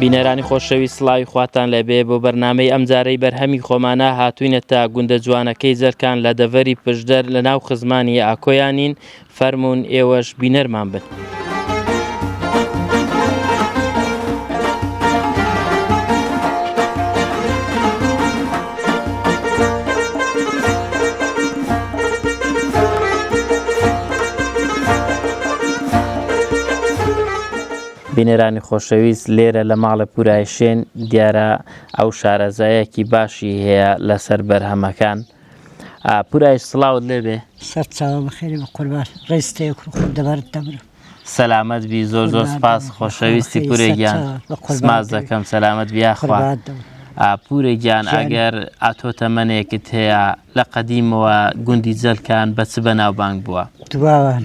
بینەرانی خۆشەویست سڵاوی خواتان لەبێ بۆ بەرنمەی ئەمجارەی بەرهەمی خۆمانە هاتوینە تا گوندە جوانەکەی جەرکان لە دەڤەری پشدەر لە ناو خزمانی ئاکۆیانین فەرمونون ئێوەش بینەرمان بن. بینەرانی خۆشەویست لێرە لە ماڵە پورای شێن دیارە ئەو شارەزایەکی باشی هەیە لەسەر بەرهەمەکان پورای سڵاوت لێبێ سەر چاوە بەخێری بە قورباش ڕێستەیە کوڕ خۆ دەبارت دەبرە سەلامەت بی زۆر زۆر سپاس خۆشەویستی پورێگیان سماز دەکەم سەلامەت بیاخوا پورێ گیان ئەگەر ئاتۆ تەمەنێکت هەیە لە قەدیمەوە گوندی جەلکان بە چ بە ناوبانگ بووە دواوان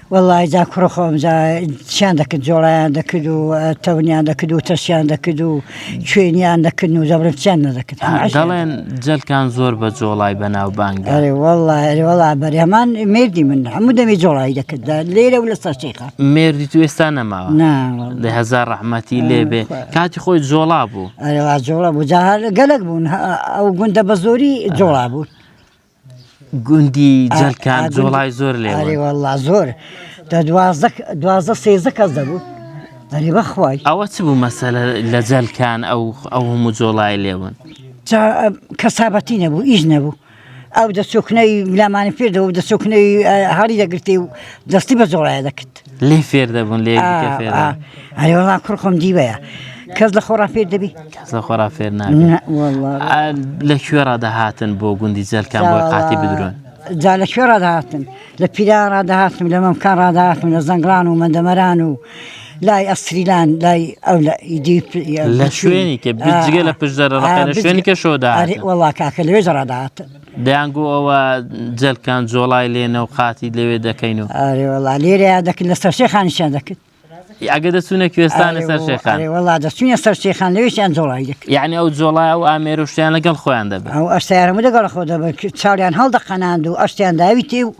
وەڵا جا کوڕە خۆم جا چیان دەکرد جۆڵیان دەکرد و تەونیان دەکرد و تەشیان دەکرد و کوێنیان دەکرد و دەبرن چیان نەدەکرد دەڵێن جەلکان زۆر بە جۆڵای بەناوبانگ وەڵا وەڵا بەری هەمان مردی من هەموو دەمی جۆڵایی دەکرد لێرە و لە سەرچێخە مردی تو ئێستا نەماوە لە هزار ڕەحمەتی لێبێ کاتی خۆی جۆڵا بوو ئەرێوا جۆڵە بوو جاهار گەلک بوون ئەو گوندە بە زۆری جۆڵا بوو گوندی جەلکان جۆڵای زۆر لێ ئەرێ واللە زۆر دە دوازدە دوازدە سێزدە کەس دەبوو ئەرێ بەخوای ئەوە چ بوو مەسەلە لە جەلکان ئەو ئەو هەموو جۆڵای لێون جا کەسابەتی نەبوو ئیش نەبوو ئەو دەچۆکنەی لامانی پێدەوە دەچۆکنەی هەڵی دەگرتێ و دەستی بە جۆڵایە دەکرد لێی فێر دەبوون لێ ئەی وڵا کوڕ خۆم دیوەیە کەس لە خۆڕا فێر دەبی کەس لە خۆڕا فێر لە کوێڕا دەهاتن بۆ گوندی جەلکان بۆ قاتی بدرون جا لە کوێڕا دەهاتن لە پیران ڕداهاتم لە مەمکان ڕداهاتم لە زەنگڵان و مندەمەران و لای ئەستریلان لای ئەو لە شوێنی کە بجگە لە پشدەرە شوێنی کە شۆدا وڵا کاکە لەوێ جڕداهاتن دەیان گۆ ئەوە جەلکان جۆڵای لێنە و قاتی لەوێ دەکەین و ئەرێ وەڵا لێرەیا دەکرد لە سەرشێ خانیشیان دەکرد ئەگە دەچوونە کوێستانە سەر شێخان وڵا دەچوینە سەر شێخان لەوێشیان جۆڵای دەکرد یعنی ئەو جۆڵای و ئامێر و شتیان لەگەڵ خۆیان دەبێت ئەو ئەشتارمە دەگەڵ خۆ دەبن چاویان هەڵدەقەناند و ئەشتیان داوی تێ و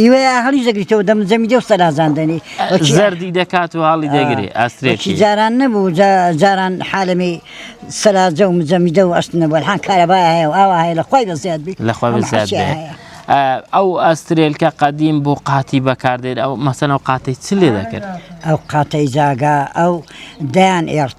ئیوە ئا هەڵیش دەگریتەوە دەم جەمی دێ و سەرازان دەنی زەردی دەکات و هەڵی دەگرێ ئاسترێکی جاران نەبوو جاران حالەمی سەراجە و مجەمیدە و ئەشت نەبوو حان کارەبای هەیە و ئاوا هەیە لە خۆی بەزیاد بی لە خۆی بەزیاد ئەو ئەسترێلکە قەدیم بوو قاتی بەکاردێت ئەو مەسەن و قاتی چ لێ دەکرد ئەو قاتەی جاگا ئەو دەیان ئێرت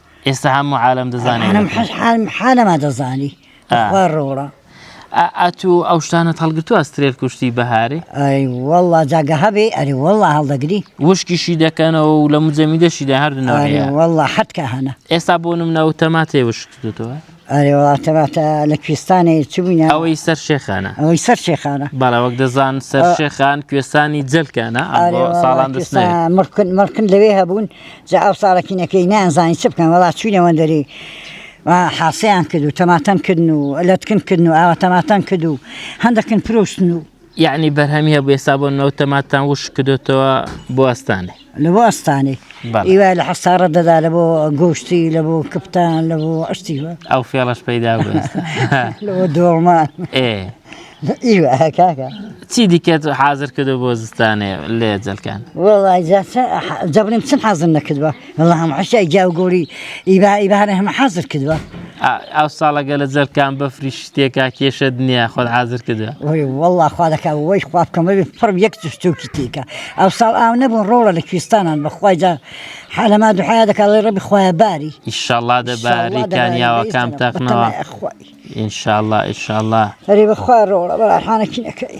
ئێستا هەموو عالم دەزانێت حالەما دەزانی خوا ڕۆڵە ئەتو ئەو شتانە هەڵگرتو ئەسترێت کوشتی بەهارێ وەڵا جاگە هەبێ ئەری وەڵا هەڵدەگری وشکیشی دەکەنەوە و لە مجەمیدەشیدا هەردنەوە وەڵا حەتکە هەنە ئێستا بۆ منەوە تەما تێ وشکتەوە ئەرێ وڵا تەباتە لە کوێستانێ چ بووینە ئەوەی سەر شێخانە ئەوەی سەر شێخانە بەڵێ وەک دەزان سەر ئە- شێخان کوێستانی جەلکانە ئەم ئەرێ بۆ وەڵا ساڵان دەست نەوێ کوێستان مڕکن مڕکن لەوێ هەبوون جا ئەو ساڵەکینەکەی نەیانزانی چ بکەن وڵا چوینە وەندەری و حاسەیان کرد و تەماتەم کردن و لەتکن کردن و ئاوە تەماتەم کرد و هەندەکن فرۆشتن و یەعنی بەرهەمی هەبوو ئێستا بۆ نەوت تەماتتان وشک کردۆتەوە بۆ ئەستانێ لە بۆ ئەستانێ بەڵێ. ئیوە لە حەسارە دەدا لە بۆ گۆشتی لە بۆ کپتان لە بۆ ئەشتی وە ئەو فێڵەش پەیدا بوو ئێستا. لە بۆ دۆڵمان ئێ ئیوە هە کاکە چی دیکەت حازر کردو بۆ زستانێ لێ جەلکان وەڵای جا چە جا بڵێم چم حازر نەکردوە واللە هەموو حەشی ئەی گیاو گۆری ئیبا ئیبارە هەمە حازر کردوە ئەو ساڵەگە لە جەرکان بەفری شتێکا کێشە دنیا خۆت حازر کردوە وی واللە خوا دەکا وەی خوا بکەمەوی فڕم یەک تشتوکی تیکە ئەو ساڵ ئاو نەبوون ڕۆڵە لە کوێستانان بەخوایدا حالەما دوحایا دەکڵی ڕەبی خخوایە باری ئیشەڵا دەباری کانیاوەکان تەقنەوە ئینشاءله ئیشاءله هەری بەخوا ڕۆڵە بەڵحانەکی نەکەی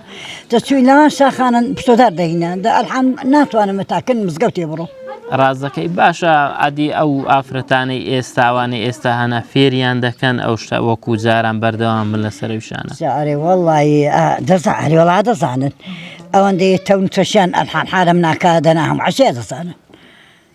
دەچووین لەوان شاخانە پشتۆدار دەهینا دە ئەلحەم ناتوانم بە تاکن مزگەوتێ بڕۆ ڕازەکەی باشە عادی ئەو ئافرەتانەی ئێستاوانەی ئێستا هەنا فێریان دەکەن ئەو شتە وەکو جاران بەردەوام من لە سەرشانە ئەرێ وەڵی دەزان هەریوەڵا دەزانن ئەوەندەیە تەون چەشیان ئەلحان حالم ناکە دەنا هەم عشێ دەزانن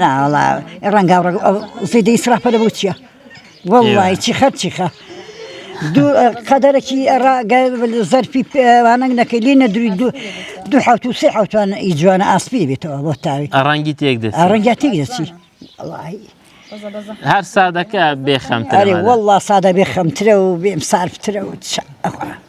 نا وەڵا ڕەنگاو ڕەگ ئەو زەیدە ئیسرافە لە بۆ چییە وەڵی چی خەر چی خە دوو قەدەرەکی ڕاگە زەرفی پێوانەنگ نەکەی لێ نەدروی دوو دوو حوت و سێ حوتوان ئی جوانە ئاسپی بێتەوە بۆ تاوی ڕەنگی تێک دێت ڕەنگیا تێک دەچی هەر سادەکە بێخەمتەێ وەڵا سادە بێخەمترە و بێم سارفترە و ئەخوا.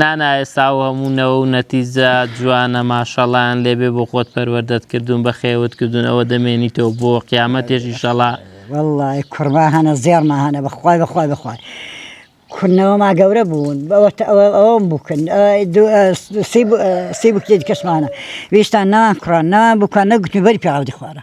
نانا ئێستا ئەو هەموو نەوە و نەتیجە جوانە ماشەڵایان لێبێ بۆ خۆت پەروەردەت کردوون بە خێوت کردوون ئەوە دەمێنیتەوە بۆ قیامەتێش ئیشەڵا والله کورما هەنە زێڕما هەنە بەخوای بەخوای بخوای کورنەوەما گەورە بوون بەوەتە ئەوە ئەوەم بکن سی بکێت کەسمانە ویشتان ناوان کوڕان ناوان بکە نەگوتنی بەری پیاوی خوارە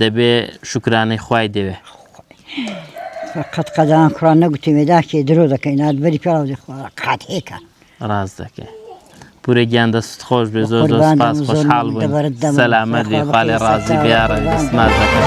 دەبێ شوکرانەی خوای دەوێ. قەت قەدان کوڕا نەگوتی مێداکێ درۆ دەکەی نات بەری پێڵاوزی خوا قات هێکە ڕاز دەکەی پورە گیان دەست خۆش بێ زۆر زۆر سپاس خۆشحاڵ بووین سەلامەت بێ خالێ ڕازی بیاڕە دەستماز دەکەم.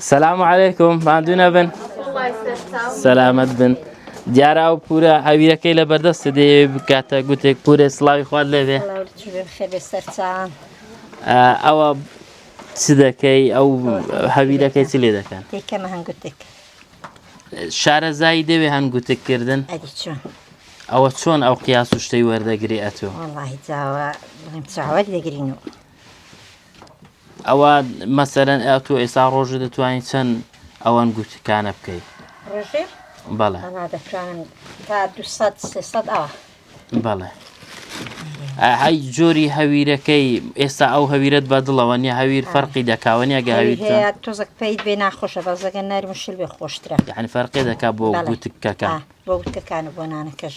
سلام علیکم ماندوو نەبن سەلامەت بن دیارە ئەو پورە ئەویرەکەی لە بەردەستە دێ بکاتە گوتێک پورێ سلاوی خوارد لێبێ ئەوە چ دەکەی ئەو هەویرەکەی چ لێ دەکەن دیکەمە هەنگوتێک شارەزایی دەوێ هەنگوتێککردن ئەوە چۆن ئەو قیاس و شتەی وەردەگری ئەتۆ چاوەر دەگرین و ئەوە مەسەرەن ئە تۆ ئێسا ڕۆژ دەتوانین چەند ئەوان گوتکانە بکەیت ڕژێ بەڵێ دەتوانم تا دو بەڵێ هەی جۆری هەویرەکەی ئێستا ئەو هەویرت بە دڵەوە نیە هەویر فەرقی دەکاوەنیە گە هەویر تۆزەک پێیت بێ ناخۆشە بەزەگە نەرمشل بێ خۆشترە یعنی فەرقی دەکا بۆ گوتکەکە بۆ گوتکەکان بۆ نانەکەش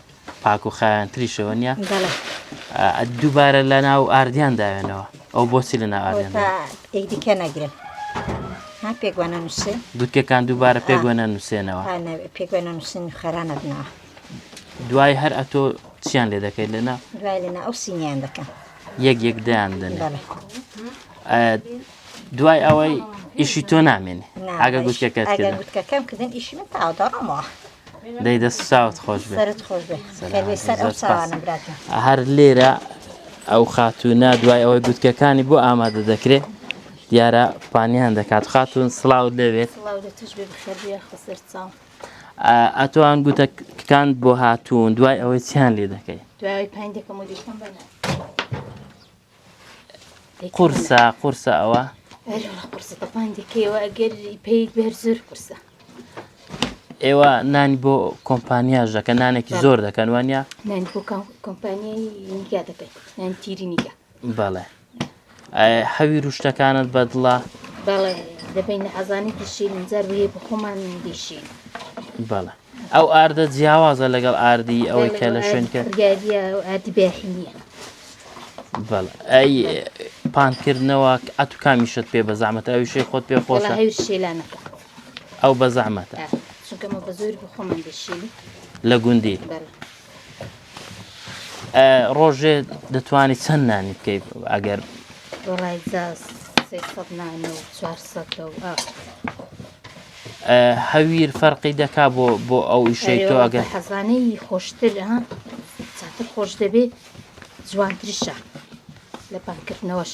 پاک و خایان تریشەوە نیە دووبارە لە ناو ئاردیان داوێنەوە ئەو بۆچی لە ناو ئاردیان دیکە نەگرن پێگوانە نووسێ گوتکەکان دووبارە پێگوێنە نووسێنەوە پێگوێنە نووسین خەرانە بنەوە دوای هەر ئەتۆ چیان لێ دەکەیت لەنا دوای لەنا ئەو سینیان دەکەم یەک یەک دەیان دەن دوای ئەوەی ئیشی تۆ نامێنێ ئاگە گوتکەکەت گوتکەکەم کردن ئیشی من تاوەڕەمەوە دەی دەست ساوت خۆش هەر لێرە ئەو خاتوونە دوای ئەوەی گوتکەکانی بۆ ئامادە دەکرێت دیارە پانیان دەکات خاتون سلااو دەوێت ئەتوان گوتەکان بۆ هاتوون دوای ئەوەی چیان لێ دەکەی دوای پندەکەم قورسە قورسە ئەوە قورسە تەپاندێکەوە ئەگەر پێیت بێر زۆر قورسە ئێوە نانی بۆ کۆمپانیاش دەکەن نانێکی زۆر دەکەن وانە نانی بۆ کۆمپانیای نیگا دەکەن نان تیری نیگا بەڵێ هەوی روشتەکانت بەدڵە بەڵێ دەبین ئازانی دشین جار بۆ بخۆمان دیشین بەڵێ ئەو ئاردە جیاوازە لەگەڵ ئاردی ئەوەی کە لە شوێنکە پانکردنەوە ئەت و کامیشت پێ بە زەحمەت ئەوشێ خۆت پێ خۆش ئەو بە زەحمەتە لە گوندی ڕۆژێ دەتوانانی چەند نانی بکەیت ئەگەر هەویر فەرقی دەکا بۆ بۆ ئەو ئیشەی تۆ ئەگەر حەزانەی خۆشتر خۆش دەبێت جوانترشە لە پانکردنەوەش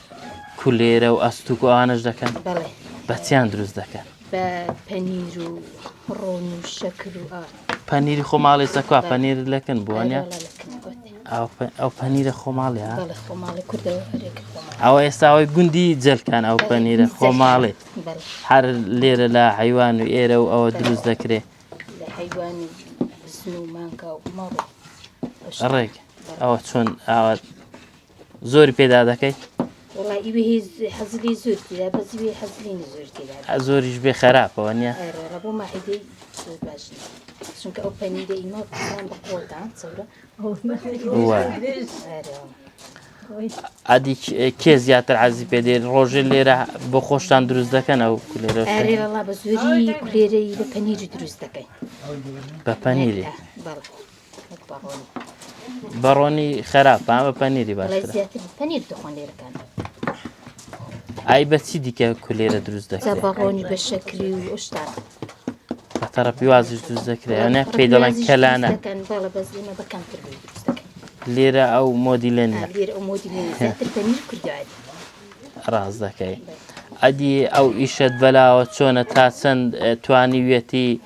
کولێرە و ئەستوک و ئەوانەش دەکەن بەڵێ بەچیان دروست دەکەن بە پەنیر و ڕۆن و شەکر و ئا پەنیری خۆ ماڵێ سەکوا پەنیر لەکن بووانە ئەو پەنیرە خۆماڵێ بەڵێ خۆماڵی کوردەوە هەرێکە ئەوە ئێستاوەی گوندی جەلکان ئەو پەنیرە خۆماڵێ هەر لێرە لە حیوان و ئێرە و ئەوە دروست دەکرێ ڕێک ئەوە چۆن ئاوات زۆر پێدا دەکەی زۆریش بێ خراپەوە نیە چونکە ئەو پەنیرە ئیمە بەخۆدا چەورە ئەدی کێ زیاتر عزی پێ دێن ڕۆژێ لێرە بۆ خۆشتان دروست دەکەن ئەو کولێرە بە زۆری کولێرەی بە پەنیری دروست دەکەین بە پەنیری بەڕۆنی خراپ پامە پەنیری باش پەنیر دخۆن لێرەکان ئای بەچی دیکە کولێرە دروست دەکات بەڕۆنی بە شەکری و ئشتا تەڕە پیوازش دروست دەکرێت یانە پێی دەڵێن کەلانە لێرە ئەو مۆدیلێن ڕاز دەکەی ئەدی ئەو ئیشت بەلاوە چۆنە تا چەند توانیویەتی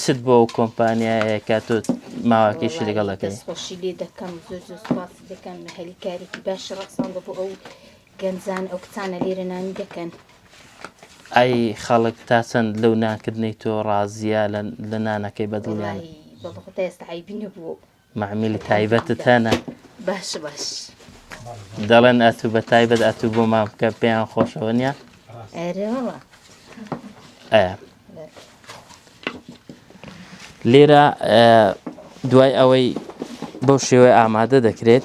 چت بۆ ئەو کۆمپانیایە کە تۆ ماواکەیشی لەگەڵ دەکەی دەستخۆشی لێ دەکەم زۆر زۆر سپاس دەکەم هەلی کارێکی باش ڕەسان بە بۆ ئەو گەنجان ئەو کچانە لێرە نانی دەکەن ئای خەڵک تا چەند لەو نانکردنەی تۆ ڕازیە لە نانەکەی بەدڵیان بەڵخۆ تا ئێستا عیبی نەبوو معمیلی تایبەتت هەنە باش باش دەڵێن ئەتوو بە تایبەت ئەتوو بۆ مام بکە پێیان خۆشەوە نیە لێرە دوای ئەوەی بەو شێوەی ئامادە دەکرێت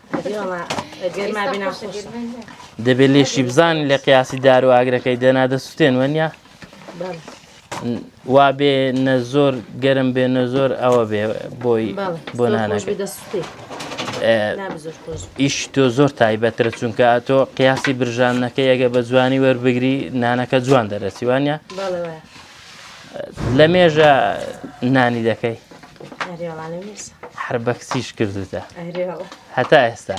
دەبێت لێشی بزان لە قیاسی دار و ئاگرەکەی دەنا دەسوستێن وەنیا وا بێ نە زۆر گەرم بێ نە زۆر ئەوە بێ بۆی بۆ نانەکە ئیش تۆ زۆر تایبەترە چونکە تۆ قیاسی برژانەکە یەگە بە جوانی وەربگری نانەکە جوان دەرەسیوانە لە مێژە نانی دەکەی هەر بە کچیش کردوتە هەتا ئێستا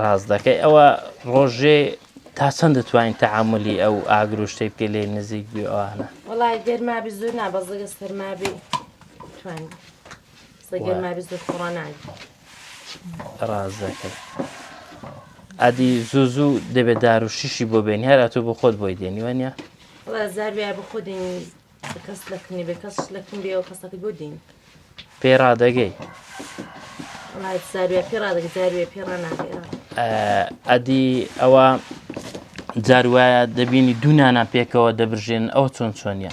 ڕاز دەکەی ئەوە ڕۆژێ تا چەند دەتوانین تەعاملی ئەو ئاگرۆشتەی بکە لێ نزیک بێوانە وڵای گەرمابی زۆر نابەزگە سەرمابی توانین گەرمابی زۆر خۆڕانان ڕاز دەکەی ئەدی زوو زوو دەبێت دار و شیشی بۆ بێنی هەر ئەتو بۆ خۆت بۆی دێنی وانە زار بیا بە خۆ دێنی کەس لەکنێ بێ کەس لەکن بێەوە کەسەکە بۆ دین پێ ڕادەگەی زاروێ پێ ڕادەگە زاروێ پێ ڕناگەی ئەدی ئەوە جاروایە دەبینی دوونانە پێکەوە دەبژێن ئەو چۆن چۆنیە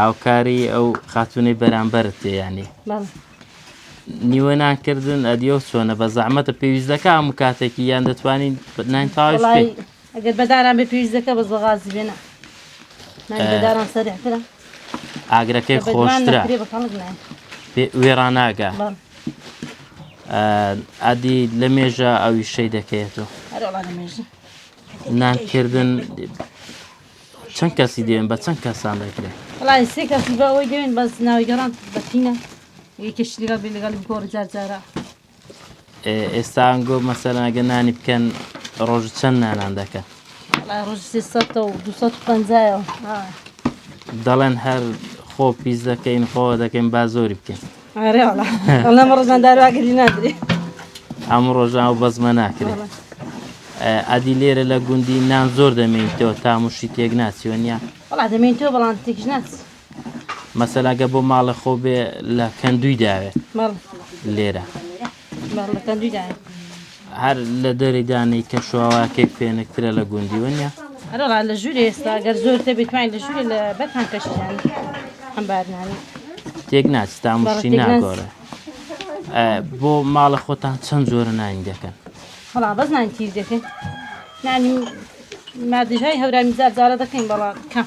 هاوکاری ئەو خاتونەی بەرامبەرت تێ یانی نیوە نانکردن ئەدیۆ چۆنە بە زەحمەتە پێویست دەکە هەموو کاتێکی یان دەتوانین ناین تاش ئەگەر بەداران بە پێویست دەکە بە زۆغازی بێنە بەداران سەرحترە ئاگرەکەی خۆشترە وێڕاناگە ئەدی لە مێژە ئەوی شەی دەکەێتەوە نانکردن چەند کەسی دێن بە چەند کەسان دەکرێت؟ وڵای سێ کەسی بە ئەوەی دێن بەس ناوی گەڕان بەتینە یەکێش لەگەڵ بێ لەگەڵ بگۆڕ جار جارە ئێستا ئەنگۆ مەسەرناگە نانی بکەن ڕۆژ چەند نانان دەکەن ڕۆژ سێ سەتە و دو سەد پەنجایەوە دەڵێن هەر خۆ پیس دەکەین خۆ دەکەین با زۆری بکەین هەموو ڕۆژاو بەزمە ناکرێت ئەدی لێرە لە گوندی نان زۆر دەمێنیتەوە تا مشتی تێک ناچیوە نیە دەمێنیتەوە بەڵام تێک ناچ مەسەلاگە بۆ ماڵە خۆ بێ لە کەندوی داوێت لێرە هەر لە دەری دانەی کە شواواکەی پێنکترە لە گوندی وەنیە ئەرەڵا لە ژووری ئێستا گەر زۆر تەبێت توانین لە ژووری لە بەتان کەشیان ئەمبارنانی تێک ناچ تامشتی ناگۆرە بۆ ماڵە خۆتان چەند جۆرە نانی دەکەن هەڵا بەس نانی تیز دەکەن نانی مادژای هەورامی زار زارە دەکەین بەڵام کەم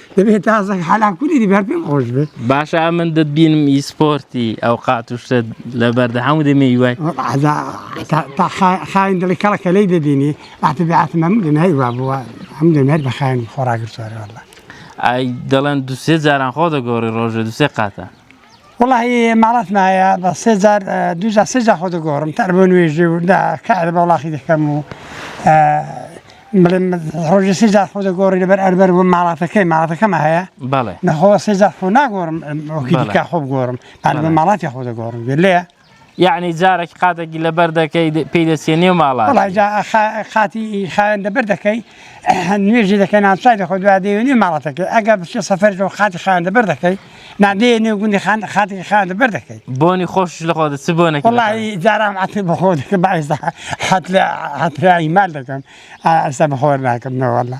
دەبێت تازەک حالاکولی بەر پێم خۆش بێت باشە ئەمن دەت بینم ئی سپۆرتی ئەو قاتوشتە لە بەردە هەموو دەمێ وای خاین دڵی کەڵەکە لی دەبینی ئاتە بەعات مەم دەنای وا بووە ئەم دەمێت بە خاین خۆراگرتوارەوەڵە ئای دەڵێن دوسێ جاران خۆ دەگۆڕی ڕۆژە دوسێ قاتە وەڵاهی ماڵاتم هەیە بە سێ جار دوو جار سێ جار خۆ دەگۆڕم تەر بۆ نوێژێ و دا کار بە وڵاخی دەکەم و بڵێم ڕۆژی سێ جار خۆ دەگۆڕی لەبەر ئەربەر بۆ ماڵاتەکەی ماڵاتەکەمە هەیە بەڵێ نەخۆ سێ جار خۆ ناگۆڕم وەکی بەڵێ. دیکە خۆ بگۆڕم هەر بە بەڵێ. ماڵاتی خۆ دەگۆڕم گوێ لێیە یەعنی جارەکی قاتێکی لەبەر دەکەی پێی دەچێ نێو ماڵات وەڵای جا خا- خاتی خاوێن دەبەر دەکەی نوێژی دەکەی نانچای دەخۆ دوا دێوێ نوێ ماڵەتەکەی ئەگەر بچێ سەفەرەوە خاتی خاوێن دەبەر دەکەی نادێ نێو گوندی خان خاتی خاوێن دەبەر دەکەی بۆنی خۆشش لە خۆدە چ بۆنێکی لە خۆت؟ وەڵی جارام عەتر بە خۆ دەکەم بایستا حەت لە حەترایی مال دەکەم ئا ئەستا بە خۆر ناکەم نەوەڵا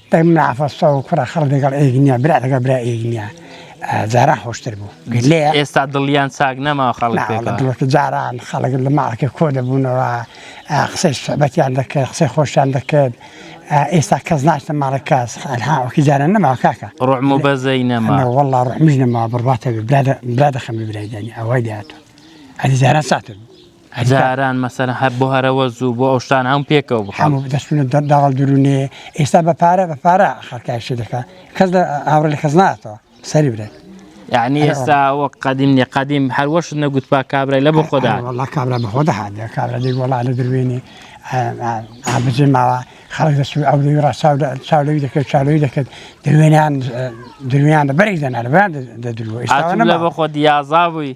دەک منە عەفەس تۆ کوڕە خەڵک لەگەڵ ئێک نییە برا لەگەڵ برا ئێک نییە جاران خۆشتر بوو لێ ئێستا دڵیان چاک نەما خەڵک ناوەڵە پێکەوە. دڵۆکی جاران خەڵک لە ماڵەکە کۆ دەبوونەوە ئا، قسەی سوعبەتیان دەکرد قسەی خۆشیان دەکرد ئا، ئێستا کەس ناچتە ماڵی کەس ئەنها وەکی جاران نەماوە کاکە ڕوعم و بەزەی نەما نە وەڵڵا ڕوحمیش نەماوە بڕواتە بێ برا دە- برا دەخەمە برای دانی ئەوای لێ هاتووە ئەدی جاران چاتر بوو هەزاران مەسەلەن هەر بۆ هەرەوەز و بۆ ئەو شتانە هەموو پێکەوە بخەم. هەموو دەستونە داڵ درونێ ئێستا بە پارە بە پارە خەڵکای شت دەکا کەس لە هاوڕێ لە کەس ناتەوە سەری برێت یعنی ئێستا وەک قەدیم نیە قەدیم هەروەشت نەگوت پا کابرای لە بۆ خۆدا والله کابرا بە خۆدا هاات کابرا دێک وڵا لە دروێنێ ئابجێ ماوە خەڵک دەست ئەو دەوی ڕاستاو چاولەوی دەکرد چاولەوی دەکرد دروێنیان درویان بەرێک دەنار بەیان دەدروە ئێستا لە بۆ خۆ دیازا بووی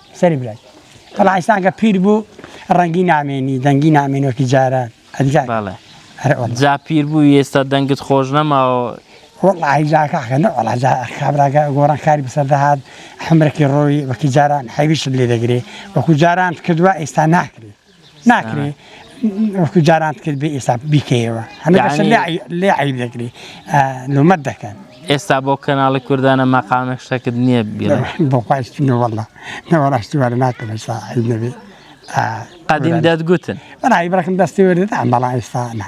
سەری برای بەڵا ئیسان کە پیر بوو ڕەنگی نامێنی دەنگی نامێن وەکی جاران ئەدگات جا پیر بوو ئێستا دەنگت خۆش نەماوە وڵی جاکەکە نەوەڵاجا خابراگە گۆڕان کاری بەسەر دەهات حمرەکی ڕۆی وەکی جاران حەویشت لێ دەگرێ وەکو جاران کردووە ئێستا ناکرێت ناکری وەکو جارانت کرد بێ ئێستا بیکەیەوە لێ عیب دەگری لومەت دەکەن ئێستا بۆ کەناڵی کوردانە مەقامێک شتەکرد نییە بۆخواستنەوەڵە نەوەڕاشتوارە ناکەم ئێستا عیب نەبێت قدیم دەتگوتن بەڕای بڕکم دەستی وەرێت ئەم بەڵا ئێستا نا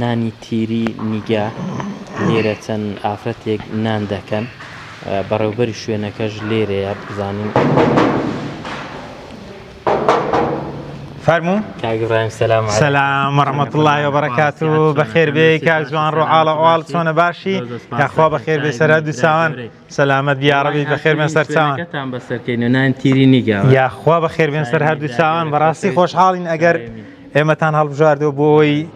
نانی تیری نیگا لێرە چەند ئافرەتێک نان دەکەن بەڕێوبەری شوێنەکەش لێرەیە بزانین. فەرموو کاک ابراهیم سلام علیکم سلام و رحمت الله و برکات و بەخێر بێی کاک جوان ڕۆ ئاڵە ئاڵ چۆنە باشی یاخوا بەخێر بێ سەرا دووساوان سەلامەت یاڕەبی بەخێرمێن سەر چاوانتان بەسەرکەین و نان تیری نیگا یاخوا بەخێربێن سەر هەردوو چاوان بەڕاستی خۆشحاڵین ئەگەر ئێمەتان هەڵبژاردەوە بۆی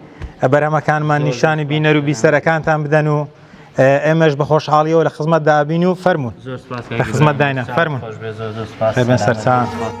بەرەمەکانمان نیشانی بینەر و بیسەرەکانتان بدەن و ئێمەش بە خۆشحاڵیەوە لە خزمەت دابین و فەرمونون لە خزمەت داینە فەرمونون سەرچان.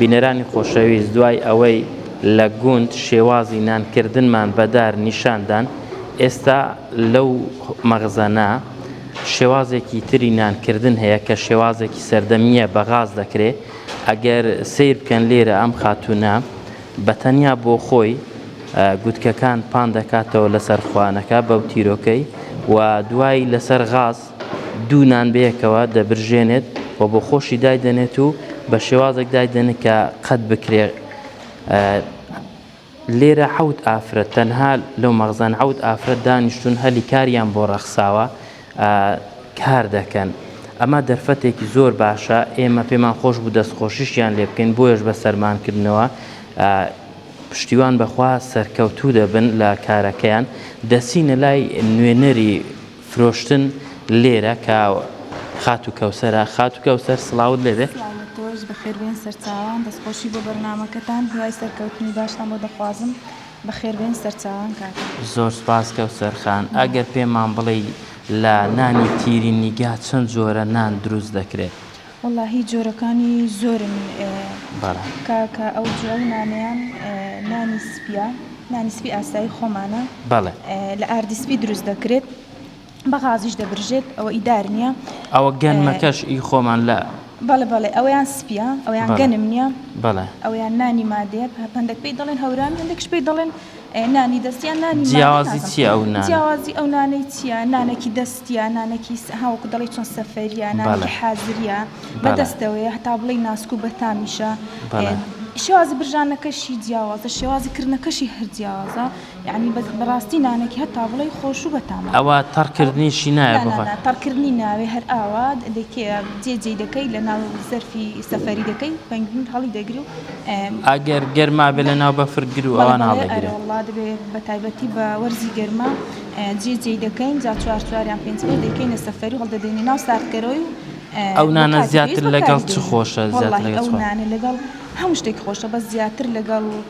بینەرانی خۆشەویست دوای ئەوەی لە گوند شێوازی نانکردنمان بەدار نیشاندان ئێستا لەو مەغزەنا شێوازێکی تری نانکردن هەیە کە شێوازێکی سەردەمیە بەغاز دەکرێت ئەگەر سیر بکەن لێرە ئەم خاتونە بە تەنیا بۆ خۆی گوتکەکان پان دەکاتەوە لەسەر خوانەکە بەو تیرۆکەی و دوای لەسەر غاز دوو نان بەیەکەوە دەبرژێنێت و بۆ خۆشی دایدەنێت و بە شێوازێک دایدەنێت کە قەت بکرێ لێرە حەوت ئافرەت تەنها لەو مەغزان حەوت ئافرەت دانیشتون هەلی کاریان بۆ ڕەخساوە کار دەکەن. ئەمە دەرفەتێکی زۆر باشە، ئێمە پێمان خۆش بوو دەستخۆشیشیان لێ بکەین، بۆیەش بە سەرمان کردنەوە. پشتیوان بەخوا سەرکەوتوو دەبن لە کارەکەیان. دەچینە لای نوێنەری فرۆشتن لێرە کە خاتوو کەوسەرە. خاتوو کەوسەر سڵاوت لێ بێ. سڵاو لە تۆش، بەخێربێن سەرچاوان. دەستخۆشی بۆ بەرنامەکەتان، هیوای سەرکەوتنی باشتان بۆ دەخوازم. بەخێربێن سەرچاوان کاکە. زۆر سوپاس کەوسەر خان. ئەگەر پێمان بڵێی لە نانی تیری نیگا چەند جۆرە نان دروست دەکرێت؟ وەڵا هی جۆرەکانی زۆرن کاکە ئەو جۆ ئەو نانەیان نانی سپیە نانی سپی ئاسایی خۆمانە لە ئاردی سپی دروست دەکرێت. بە غازیش دەبرژێت ئەوە ئی دار نییە ئەوە گەنمەکەش ئی خۆمان لە بەڵێ بەڵێ ئەوەیان سپیە ئەویان گەنم نییە بەڵێ ئەویان نانی مادێ هەندێک پێی دەڵێن هەورامی هەندێکش پێی دەڵێن نانی دەستیان نانی جیاوازی چیە ئەو نانە جیاوازی ئەو نانەی چیە نانەکی دەستیە نانەکی ها وەکو دەڵێی چۆن سەفەریە نانەکی حازریە بە دەستەوەیە هەتا بڵێی ناسک و بەتامیشە شێوازی برژانەکەشی جیاوازە شێوازی کردنەکەشی هەر جیاوازە یەعنی بە بەڕاستی نانەکی هەتا بڵێی خۆش و بەتامە. ئەوە تەڕ کردنیشی نایە بۆ خۆت. نانا تەڕ کردنی ناوێ هەر ئاوا دەکێ جێ جێی دەکەی لە ناو زەرفی سەفەری دەکەی پەنگوین هەڵی دەگری و. ئەگەر گەرما بێ لە ناو بەفر گرو ئەوان هەڵ دەگرێ. بەڵێ بەڵێ ئەرێ وەڵا دەبێ بە تایبەتی بە وەرزی گەرما جێ جێی دەکەین جا چوار چوار یان پێنج پێنج دەیکەینە سەفەری و هەڵ دەدەینە ناو سارد کەرەوەی و ئەو نانە زیاتر لەگەڵ چ خۆشە زیاتر لەگەڵ چ خۆشە. وەڵاهی ئەو نانە لەگەڵ هەموو شتێک خۆشە بەس زیاتر لەگەڵ.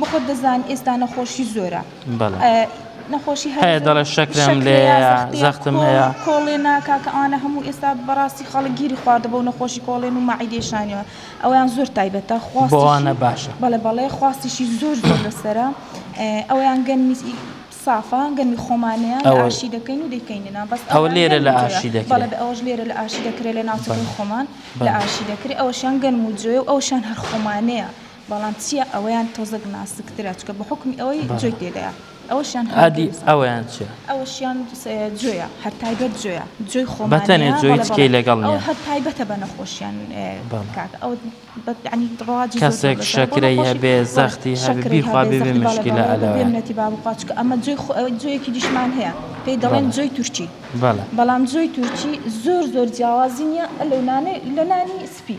بەخۆت دەزانی ئێستا نەخۆشی زۆرە بەڵێ نەخۆشی هەیە هەیە دەڵێ شەکرەم شەکرە لێیە یا زەختەیە زەختم کۆ هەیە کۆڵێنە کاکە ئەوانە هەموو ئێستا بەڕاستی خەڵک گیری خواردە بەو نەخۆشی کۆڵێن و مەعیدەی شانیەوە ئەویان زۆر تایبەتە بۆوانە خواستیشی باشە بەڵێ بەڵێ خواستیشی زۆر زۆر لەسەرە ئێ ئەویان گەنمی سافە گەنمی خۆمانەیە لە ئەوە ئاشی دەکەین و دەیکەیننە بەس ئەوە ئەویان لێرە لە گەنم و جۆیە ئاشی بەڵێ دەکرێ بە ئەوەش لێرە لە ئاشی دەکرێ لە ناوچەکەی بەڵێ خۆمان لە بەڵێ ئاشی دەکرێ ئەوەشیان گەنم و جۆیە و ئەوشیان هەر خۆمانەیە بەڵام چیە ئەوەیان تۆزەک ناسکترە چکە بەحوکمی ئەوەی جۆی تێدایە ئەوەشیان هادی ئەوەیان چیە ئەوەشیان جۆیە هەر تایبەت جۆیە جۆی خۆ بەتەنێ جۆی تکەی لەگەڵ ئەو هەر تایبەتە بە نەخۆشیان کاکە ئەو بەتعنی ڕواجی کەسێک شەکرەی هەبێ زەختی هەبێ خوا بێ مشکلە ئەلە بێمنەتی بابقاچکە ئەمە جۆی خۆ ئەوەی جۆیەکی دیشمان هەیە پێی دەڵێن جۆی تورکی بەڵام جۆی تورکی زۆر زۆر جیاوازی نیە لەو نانێ لە نانی سپی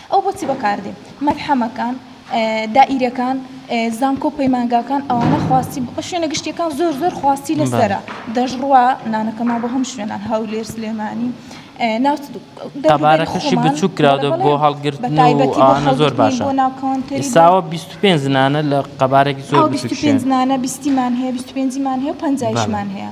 ئەو بۆچی بەکاردێ؟ مەلحەمەکان، دائیرەکان، زانکۆ پەیمانگاکان ئەوانە خواستی بە شوێنە گشتیەکان زۆر زۆر خواستی لەسەرە دەژڕوا نانەکەمان بۆ هەم شوێنان هەولێر سلێمانی ناوبارەکەشی بچوو کراودە بۆ هەڵگرتنەوە زۆر باشە بۆ ناوکەونتری ساوە 25 زنانە لە قەبارێکی زۆر 25 زنانە بیستیمان هەیە 25 مان هەیە و پنجایشمان هەیە.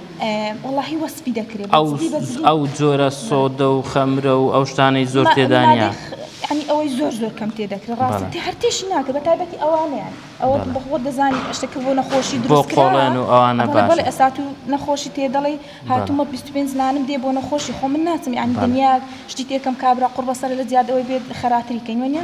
ئەو جۆرە سۆدە و خەمرە و ئەو شتانەی زۆر تێدانە ئەنی ئەوەی زۆر زۆر کەم تێ دەکرێت ڕاستی هەرتیش ناکە بە تابەتی ئەوانیان ئەوە بەخۆ دەزانانی ئەشتەکە بۆ نەخۆشی درۆکۆڵێن و ئەوانە بەڵ ئەسات و نەخۆشی تێ دەڵی هاتومە 25 زنانم دێ بۆ نەخۆشی خۆ من ناچم یعنی دنیا شتی تێکم کابرا قڕ بەسەر لە زیادەوەی بێت خەراتری کەین وەنیە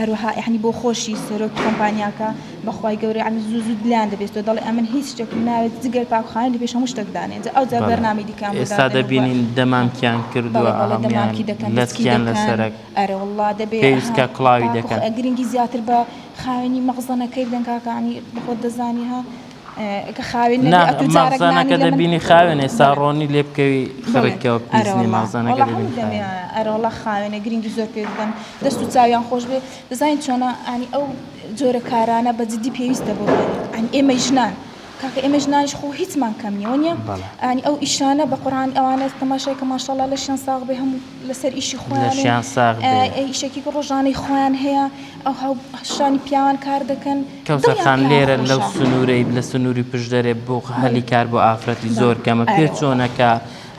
هەروەها یەعنی بۆ خۆشی سەرۆکی کۆمپانیاکە بەخوای گەورە یەعنی زوو زوو دلان دەبێستەوە دەڵێ ئەمن هیچ شتێکم ناوێت جگەر پاکخانە لەپێش هەموو شتەک دانێن جا ئەوجا بەرنامەی دیکەیان بۆ دادەنێن و ئێستا دەبینین دەمامکیان کردووە بەڵێ بەڵێ دەمامکی دەکەن لەسکیان لەسەرەک ئەرێ واللە دەبێ پێویست کە کڵاوی دەکەن گرنگی زیاتر بە خاوێنی مەخزەنەکەی بدەن کاکە یەعنی بەخۆت دەزانی ها. نا مەغزانەکە دەبینی خاوێنە ئێستا ڕۆنی لێ بکەوی خڕکەوە پیس نیە مەغزانەکە دەبینی خاوێنە. ئەرە وەڵا خاوێنە گرینگی زۆر پێ دەدەن دەست و چاویان خۆش بێ دەزانین چۆنە ئەنی ئەو جۆرە کارانە بە جدی پێویستە بۆ ئەنی ئێمە ژنان. کاکە ئێمە ژنانیش خۆ هیچمان کەم نیە وەنیە ئەنی ئەو ئیشانە بە قڕان ئەوانە تەماشای کە ماشەڵا لەشیان ساغ بێ هەموو لەسەر ئیشی خۆیان لەشیان ساغ بێ ئیشێکی ڕۆژانەی خۆیان هەیە. ئەو هاوبەشانی پیاوان کار دەکەن. کەوسەر خان لێرە لەو سنورەی لە سنوری پشدەرێ بۆ هەلی کار بۆ ئافرەتی زۆر کەمە پێ چۆنە کە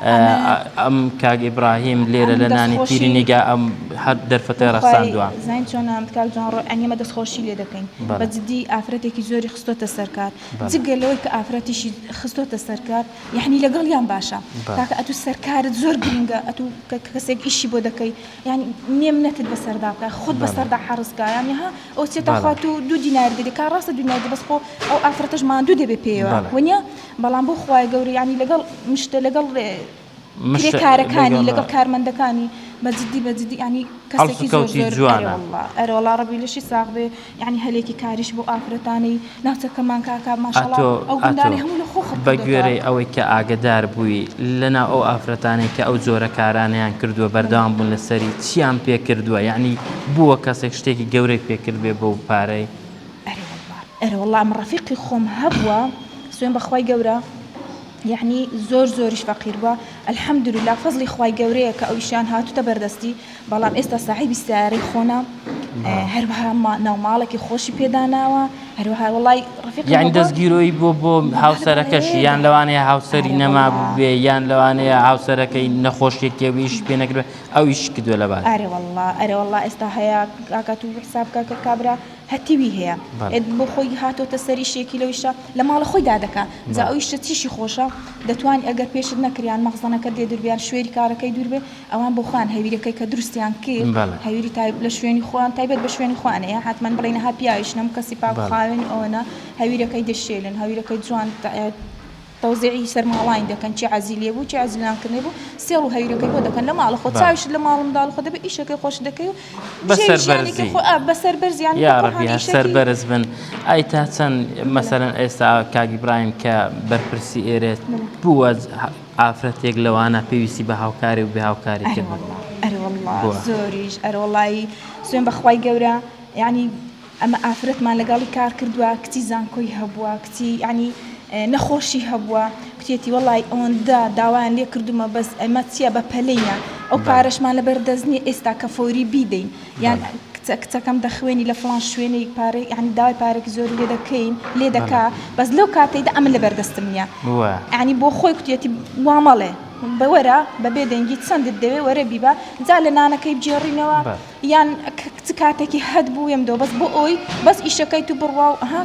ئەم کاک ئیبراهیم لێرە لە نانی پیری نیگا ئەم هەر دەرفەتە ڕەخساندوە زین چۆن ئەم کاک جوان ڕۆ ئەنیمە دەست خۆشی لێ دەکەین بە جدی ئافرەتێکی زۆری خستۆتە سەرکار جگە لەوەی کە ئافرەتیشی خستۆتە سەرکار یعنی لەگەڵیان باشە کاکە ئەتو سەرکارت زۆر گرنگە ئەتو کەسێک ئیشی بۆ دەکەی یانی نێم نەکرد بەسەردا بکە خود بەسەردا حەرزکە یانی ها ئەو چێتە خوات و دوو دینار دەبێت کا ڕاستە دنیای بەس خۆ ئەو ئافرەتەش ماندوو دەبێت پێوە ونیە بەڵام بۆ خوای گەورە ینی لەگەڵ مشتە لەگەڵ کارەکانی لەگەڵ کارمەندەکانی بەجددی بەجددی ینی کەسێکی زۆر زۆر ئەرۆڵا ڕبی لەشی ساغ بێ یەعنی هەلێکی کاریش بۆ ئافرەتانی ناوچەکەمان کاکە ماشاڵا ئەتۆ ئەو گوندانەی ئەتۆ هەموو لە خۆ خڕ بە کردۆتەوە. گوێرەی ئەوەی کە ئاگەدار بووی لە ناو ئەو ئافرەتانەی کە ئەو جۆرە کارانەیان کردووە بەردەوام بوون لە سەری چیان پێ کردووە یەعنی بووە کەسێک شتێکی گەورەی پێ کردبێ بەو پارەی؟ ئەرێ وەڵڵا ئەرێ وەڵڵا ئەمە ڕەفیقی خۆم هەبووە سوێن بە خوای گەورە یەعنی زۆر زۆریش فەقیر بووە الحمدللە فەزڵی خوای گەورەیە کە ئەویشیان هاتووتە بەردەستی بەڵام ئێستا ساحێبی سەیارەی خۆنە هەروەها ناو ماڵێکی خۆشی پێداناوە هەروەها وڵی ڕفیق یان دەستگیرۆی بۆ بۆ هاوسەرەکەشی یان لەوانەیە هاوسەری نەما بێ یان لەوانەیە هاوسەرەکەی نەخۆشیێکێویش پێ نەکرێت ئەو ئیش کردو لە باز ئەرەوەله ئەرەوەله ئێستا هەیە کاکات و حساب کاکە کابرا هەتیوی هەیە بۆ خۆی هاتۆتە سەری شێکی لەویشە لە ماڵە خۆی دادەکە جا ئەویشە چیشی خۆشە دەتوان ئەگەر پێشت نەکریان مەخزنەکە دێ دربیان شوێری کارەکەی دوور بێ ئەوان بۆ خۆیان هەویرەکەی کە دروستیان کرد هەویری تایب لە شوێنی خۆیان تایبەت بە شوێنی خۆیان ئەیە هاتمان بڵێین ها پیاویش نەم کەسی پاک و خاوێن و ئەوەنە هەویرەکەی دەشێلن هەویرەکەی جوان تەوزیعی سەر ماڵانی دەکەن چی عەزی لێ بوو چی عەزی لە نانکردنی بوو سێڵ و هەویرەکەی بۆ دەکەن لە ماڵە خۆت چاویشت لە ماڵ و منداڵ خۆت دەبێ ئیشەکەی خۆشت دەکەی و بە سەر بەرزی ژیانێکی خۆ ئا بە سەر بەرز یانی یا ڕەبی هەر سەر بەرز بن ئای تا چەند مەسەلەن ئێستا کاک ئیبراهیم کە بەرپرسی ئێرە بووە ئافرەتێک لەوانە پێویستی بە هاوکاری و بێ هاوکاری تر بوو ئەرێ واللە بووە. زۆریش ئەرێ وەڵایی سوێن بەخوای گەورە یانی ئەمە ئافرەتمان لەگەڵی کار کردووە کچی زانکۆی هەبووە کچی یانی نەخۆشی هەبووە کوتێتی وەڵی ئەوەندە داوایان لێ کردومە بەس ئەمە چییە بە پەلەیە ئەو بەڵێ پارەشمان لەبەر دەست نییە ئێستا کە فۆری بیدەین یان کچە کچەکەم دەخوێنی لە فڵان شوێنێک پارەی یعنی داوای پارێکی زۆری لێ دەکەین لێ دەکا بەس لەو کاتەیدا ئەمن لەبەر دەستم نییە ینی بۆ خۆی کوتێتی وا مەڵێ بەوەرە بە بێدەنگی چەندت دەوێ وەرە بیبە جا لە نانەکەی بجێڕینەوە یان کچ کاتێکی هەت بووێم دۆ بەس بۆ ئەوی بەس ئیشەکەی تو بڕوا و ها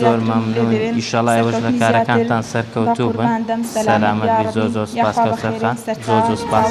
زۆر مەمنون ئیشەڵا ئێوەش لە کارەکانتان سەرکەوتوو بن سەلامەت بی زۆر زۆر سوپاس کەوسەر خان زۆر زۆر سوپاس.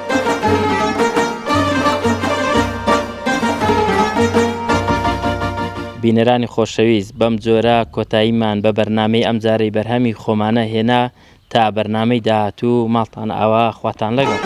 بینەرانی خۆشەویست بەم جۆرە کۆتاییمان بە بەرنامەی ئەمجارەی بەرهەمی خۆمانە هێنا تا بەرنامەی داهاتوو ماڵتان ئاوا خواتان لەگەڵ.